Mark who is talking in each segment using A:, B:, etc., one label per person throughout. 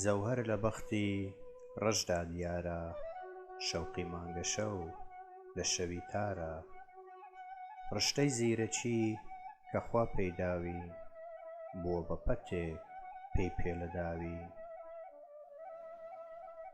A: جەوهەر لە بەختی ڕەشدا دیارە شەوقی مانگەشەو لە شەوی تارە ڕشتەی زیرەکی کە خوا پێی داوین بووە بە پەتێک پێی پێلە داوین.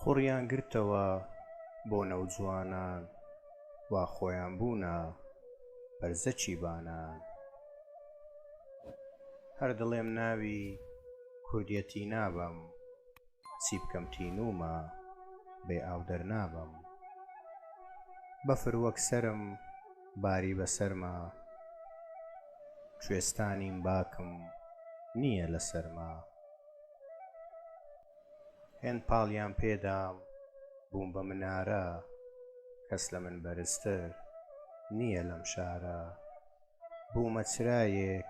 A: قوڕیان گرتەوە بۆ نەوجوانان وا خۆیان بوونە بەرزەکی بانان هەر دڵێم ناوی کوردیەتی نابەم چی بکەم تینوومە بێ ئاو دەرنابەم بەفر وەک سەرم باری بەسەرما کوێستانیم باکم نییە لە سەرما هێند پاڵیان پێدام بووم بە منارە کەس لە من بەرزتر نییە لەم شارە بوومە چرایەک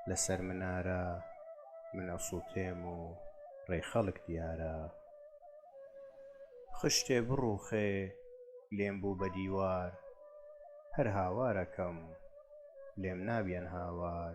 A: لەسەر منارە من ئەسووتێم و ڕێ خەڵک دیارە خشتێ بڕووخێ لێم بوو بە دیوار هەر هاوارەکەم لێم نابیەن هاوار